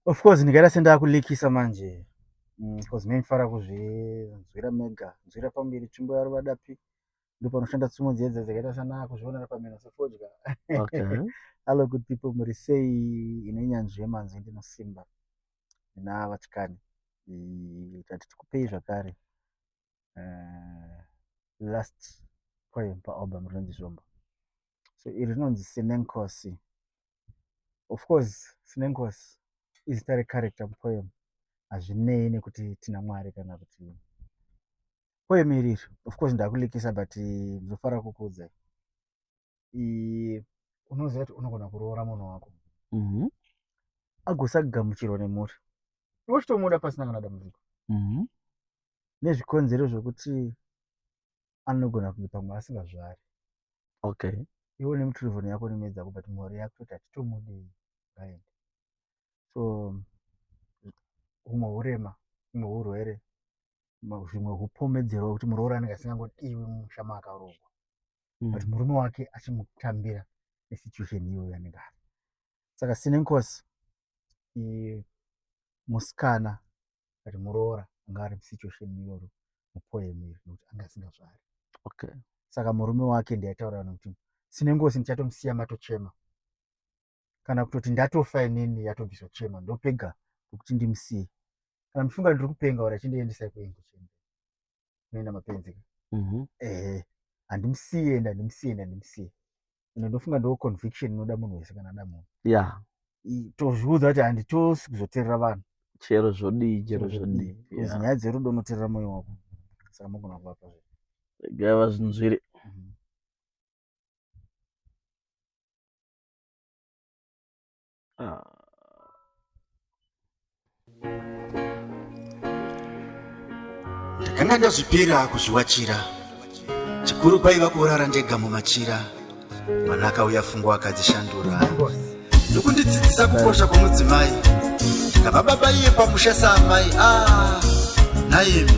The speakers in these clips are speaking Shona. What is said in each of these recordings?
of course ndikaita sendakulikisa manje because mm, mefara kuzvinzwira mega nzwira pamberi tsvimbo yaro vadapi ndo panoshanda tsumo dzedza dzakaita sana kuzvionera pamheno sefodya hallo good people muri sei ine nyanzvi yemanzwi ndinosimba ndina vatikani tati tikupei zvakare eh, last poem paalbum rinonzi zvombo so iri rinonzi sinenkosi of course sinengosi izita recharacter mupoem hazvinei nekuti tina mwari kana kuti poem iri iri of course ndakulikisa but eh, ndinofanira kukuudzai unoziva kuti unogona kuroora munhu wako mhm. agosagamuchirwa nemhuri iwochitomuda pasina kana dambudziko mhm. nezvikonzero zvokuti anogona kunge pamwe asingazvari okay iwe une mutirivhoni yako nemedzi yako but mhuri yako toti hatitomudii ngaende so humwe hurema humwe hurwere zvimwe hupomedzerwa kuti muroora anenge asingangodiwi mumusha maakaroorwa mm. but murume wake achimutambira nesituation iyoyo yanenge ari saka sinenkosi musikana but muroora anga ari situation iyoyo mupoem iri nekuti anga asingazvari okay saka murume wake ndiaitaura kana kuti sine ngozi ndichatomusiya matochema kana kutoti ndatofa inini yatobviswa chema ndopega kuti ndimusiye kana mufunga ndiri kupenga ora chindiendesai kuengo chembe unoenda mapenzi ka Mhm. ehe handimusiye ende handimusiye ende handimusiye ende ndofunga ndo conviction inoda munhu wese kana ada munhu ya I- tozviudza kuti handitosi kuzoterera vanhu chero zvodii chero zvodii Because Ya. nyaya dzerudo unoterera moyo wako saka mogona kuvapa zve gava zvinhu zviri Mhm. Ah. ndakanga ndazvipira kuzviwachira chikuru kwaiva kurara ndega mumachira mwana akauya fungo akadzishandura ndokundidzidzisa kukosha kwomudzimai ndikava baba iye pamusha saamai a ah, naimi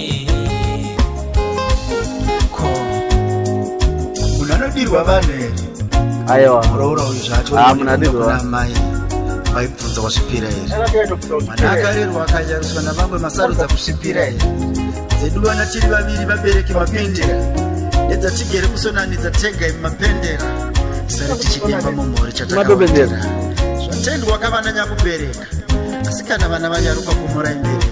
munadirwa vanhu here aiwa muroora uyu zvacho Ah, munadirwa. kuna amai vaibvunza wasvipira here mwana akarerwa akayariswa navamwe masarudza kusvipira here dzedu vana tiri vaviri vabereki mapendera nedzatigere kusonanidza tega imi mapendera sare tichidemba mumhuri Matopendera. chatakaotera zvatendwa kavana nyakubereka asi kana vana vanyarukwa kumura imbereko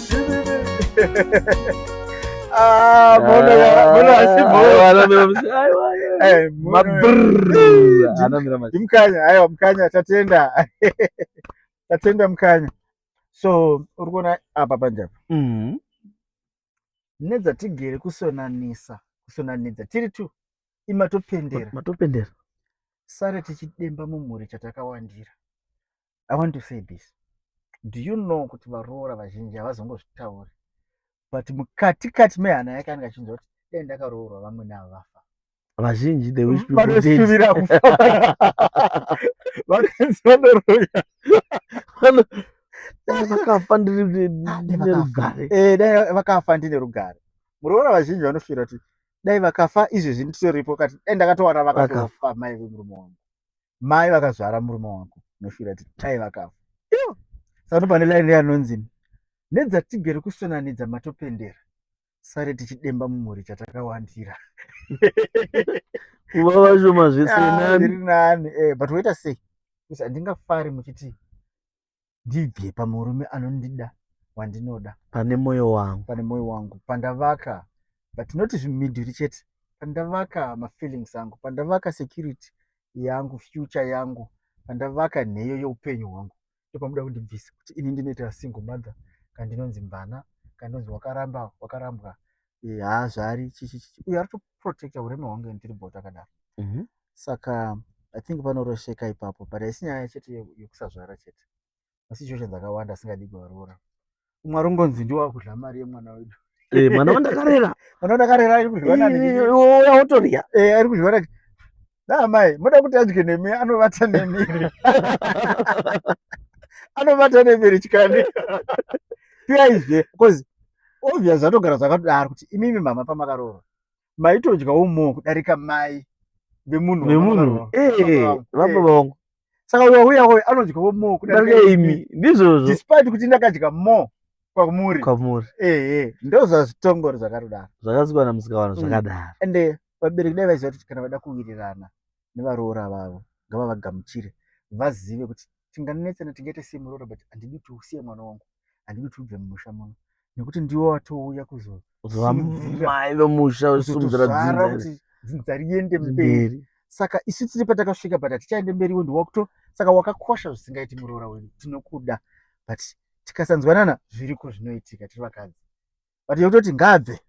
Ah, mona mona asi mona anamira musi aiwa eh mabrrr anamira musi mkanya aiwa mkanya tatenda tatenda mkanya so uri kuona apa panjapa mhm nedzatigere kusonanisa kusonanidza tiri two imatopendera matopendera sare tichidemba mumhuri chatakawandira i want to say this do you know kuti varoora vazhinji havazongozvitauri but mukati kati mehana yake anenge achinzwa kuti dai ndakaroorwa vamwe navo vafa vazhinji the wish people vanosuvira kufa vanonzi vanoroya vakafa ndiri nerugare eh, dai vakafa ndine rugare muroora vazhinji vanofira kuti dai vakafa izvezvi nditoripo kati dai ndakatowana vakatofa mai vemurume wangu mai vakazvara murume wako unoshuvira kuti tai vakafa iyo sano pane laini yanonzi nedzatigere kusonanidza matopendera sare tichidemba mumhuri chatakawandira kuva vashoma zvesenani ah, nani eh, but woita sei handingafari muchiti ndibve pamurume anondida wandinoda pane moyo wangu pane moyo wangu pandavaka but not zvimidhuri chete pandavaka mafeelings angu pandavaka security yangu future yangu pandavaka nheyo yeupenyu hwangu ndopamuda kundibvisa kuti ini ndinoita single mother kandinonzi mvana kandinonzi wakaramba wakarambwa eh, haazvari chichichichi uyo ari kutoprotecta urema hwangu and tiri bota akadaro Mhm. saka i think panorosheka ipapo but haisi nyaya chete ye- yekusazvara chete masituation dzakawanda asingadi kuvaroora umwe arongonzi ndiwo akudla mari yemwana wedu Eh, mwana wandakarera mwana ndakarera ari kudyiwa nani Eh, wauya wotorya Eh, ari kudyiwa nani da amai moda kuti adye nemi anovata nemiri anovata nemiri chikani piyaizve bcause obvious zvatogara zvakadaro kuti imimi mama pamakaroora maitodyawo moo kudarika mai vemunhu vemunhu eh, eh, vababa vangu saka uyo uya uyo anodyawo more kudarika imi ndizvozvo despite kuti ndakadya more kwamuri kwamuri ehe ndozvazvitongori zvakadaro zvakasikwana musikawana mm. zvakadaro ende vabereki dai vaiziva kuti kana vada kuwirirana nevaroora vavo ngavavagamuchire vazive kuti tinganetsana tingaite semuroora but handidi kuti usiye mwana wangu handidi kuti ubve mumusha muno nekuti ndiwo atouya kuzovamai vemusha usimudzira dzinza dzinza riende mberi saka isu tiri patakasvika but hatichaende mberi wendi wakuto saka wakakosha zvisingaiti muroora wedu tinokuda but tikasanzwanana zviriko zvinoitika tiri vakadzi but yekutoti ngaabve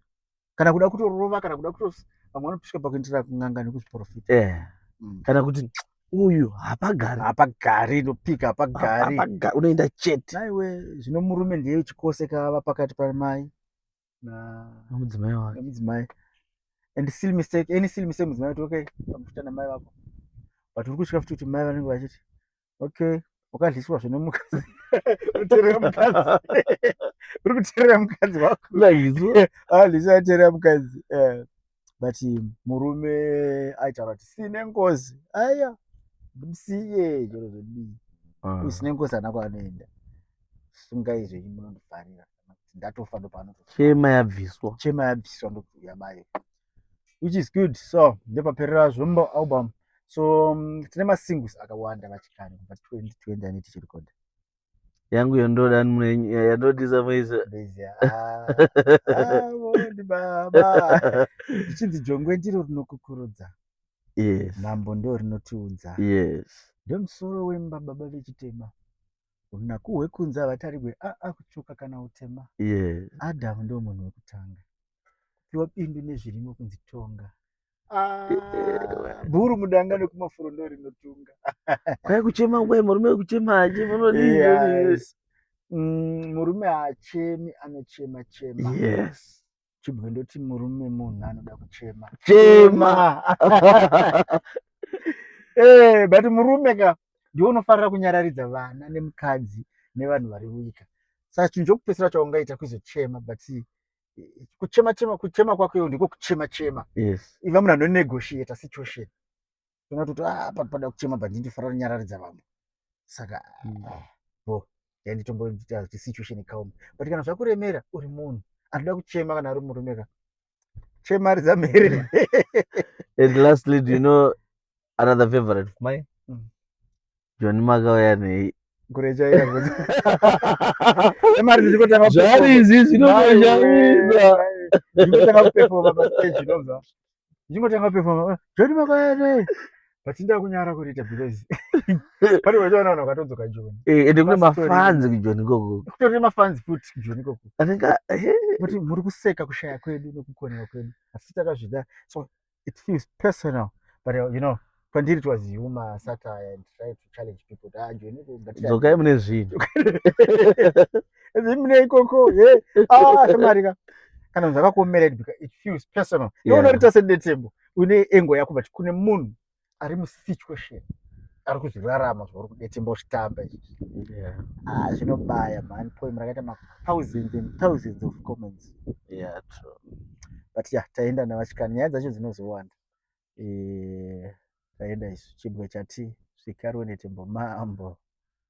kana kuda kutorova kana kuda kuto vamwe vanopiswa pakuendera kun'anga nekuzviprofita eh. mm. kana kuti uyu hapagari hapagari inopika hapagari unoenda chete naiwe zvino murume ndiye chikose kava pakati pamai namudzimai wake namudzimai and still mistake any still mistake mudzimai kuti okay pamufuta namai vako but uri kusvika futi kuti mai vanenge vachiti okay wakadliswa zvine mukadzi uterera mukadzi uri kuterera mukadzi wako alisa ah, aterera mukadzi eh, but murume aitaura kuti sine ngozi aya siye chero zvedii ah. usine ngozi anako anoenda sungai zvenyu munondifarira kana kuti ndatofa ndopanoto chema yabviswa chema yabviswa ndokuuya bayo which is good so ndopaperera zvombo album so um, tine masingles akawanda vachikare kubva 2020 ane tichirikoda yangu yondoda yandodisa muizvichinzi jongwe ndiro rinokukurudza mambo ndo rinotiudza ndomusoro wemba baba vechitema runaku hwekunze havatarigwe aa kutsvuka kana utema yes. adamu ndo munhu wekutanga kupiwa bindu nezvirimo kunzi tonga ah, bhuru mudanga nekumafuro ndo rinotunga kwai kuchema kwai murume wekuchema aje munodii yes. mm, murume haachemi anochema chema yes. chibwe ndoti murume munhu anoda kuchema chema eh, but murume ka ndiwo unofarira kunyararidza vana nemukadzi nevanhu vari wika saka chinhu chokupesera chaungaita kuzochema but kuchema chema kuchema kwako iwo ndiko kuchema chema yes. iva munhu anonegotiata situation toona kuti ah, apa pada kuchema but ndinofana kunyararidza vamwe saka mm. ah, bo yanditomboita kuti situation ikaoma but kana zvakuremera uri munhu anoda kuchema kana ari murume ka chemaridza mhere and lastly do you know another favorite of mine mm. joni makauya nei zvarizvi zvinotozvaizvinotoaaiaai vachinda kunyara kuriita because pane vachaona vanhu vakatodzoka joni eh, ende kune mafanzi kujoni ikoko kutori mafanzi futi kujoni ikoko anenge eh. kuti muri kuseka kushaya kwedu nekukonewa kwedu asi takazvida so it feels personal but uh, you know pandiri it was humor satire and try to challenge people ah joni dzokai mune zvinhu mune ikoko he ah shamari ka kana zvakakuomerera because it feels personal iwe unorita sedetembo une engo yako but kune munhu ari musituation ari kuzvirarama zvauri kudetimbo zvitamba izvi yeah. ah, zvinobaya man poem rakaita mathousands and thousands of comments yeah, true. but ya yeah, taenda navachikani nyaya dzacho dzinozowanda e, taenda isu chibwe chati zvikarwe netembo mambo